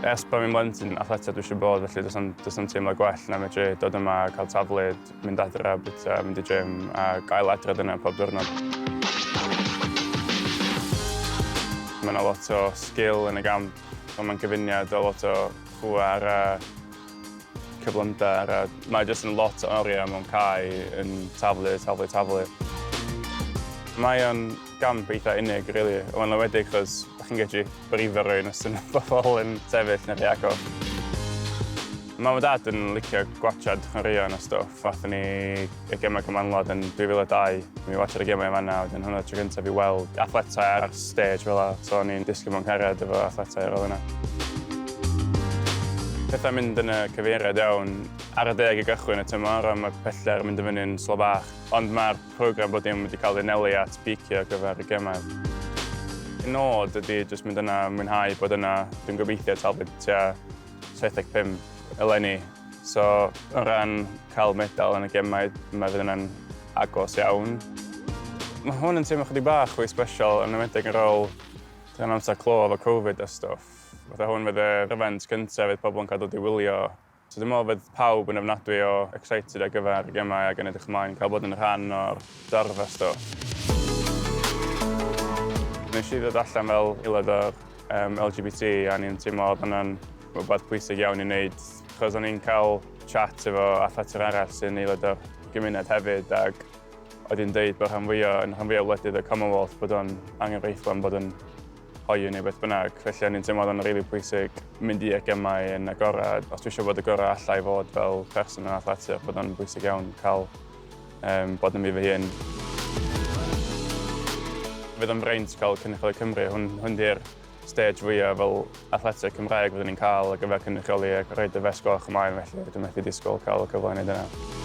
Ers bod fi'n blentyn athletio dwi eisiau bod, felly does na'm teimlo gwell na medru dod yma, cael taflid, mynd adre, bwyta, mynd i gym a gael adre dyna pob diwrnod. Mae yna lot o sgil yn y gamp, ond mae'n gyfuniad o lot o pŵer a Cyflymder a mae jyst yn lot o oriau mewn cae yn taflu, taflu, taflu. Mae o'n gamp eitha unig, really. Mae'n lawedig chos da chi'n gallu brifo rhywun os ydyn pobl yn sefyll neu rhy agos. Mam a dad yn licio gwatsiad chwaraeon a stwff, fath ni y gemau Cymmanwlad yn 2002. Mi watcher y gemau yn fanna, wedyn hwnna tro gyntaf i weld athletau ar stage fel yna. So o'n i'n disgyn mewn cariad efo athletau ar ôl hynna. Pethau'n mynd yn y cyfeiriad iawn ar y deg i gychwyn y tymor a mae pellter yn mynd yn fyny'n slo bach. Ond mae'r program bob dim wedi cael ei anelu at beicio ar gyfer y gemau. Y nod ydy jyst mynd yna, mwynhau bod yna. Dwi'n gobeithio talu tua 75 eleni. So, o ran cael medal yn y gemau, mae fydd yna'n agos iawn. Mae hwn yn teimlo chydig bach fwy special, yn ymwedig yn rôl yn amser clo efo Covid a stwff. Fatha hwn fydd yr event cyntaf fydd pobl yn cael dod i wylio. So dwi'n meddwl fydd pawb yn ofnadwy o excited ar gyfer y gemau ac yn edrych ymlaen i cael bod yn rhan o'r dorf a stwff. Nes i ddod allan fel aelod o'r LGBT a o'n i'n teimlo oedd hwnna'n Rhywbeth pwysig iawn i wneud, achos o'n i'n cael chat efo athletwyr arall sy'n aelod o'r gymuned hefyd ac oedd hi'n dweud bod rhan fwyaf yn rhan fwyaf o wledydd y Commonwealth bod o'n angenrheidiol am bod yn hoyw neu beth bynnag. Felly o'n i'n teimlo oedd o'n rili really pwysig mynd i'r gemau yn agored. Os dwi eisiau bod y gorau allai fod fel person yn athletwyr bod o'n bwysig iawn cael um, bod yn fi fy hun. Fydd o'n braint cael Cynrychioli Cymru, hwn, hwn di'r stêj fwya' fel athleteg Cymraeg fyddwn ni'n cael ar gyfer cynrychioli ac rhoid y fest goch ymlaen felly dwi methu disgwyl cael y cyfle i wneud hynna.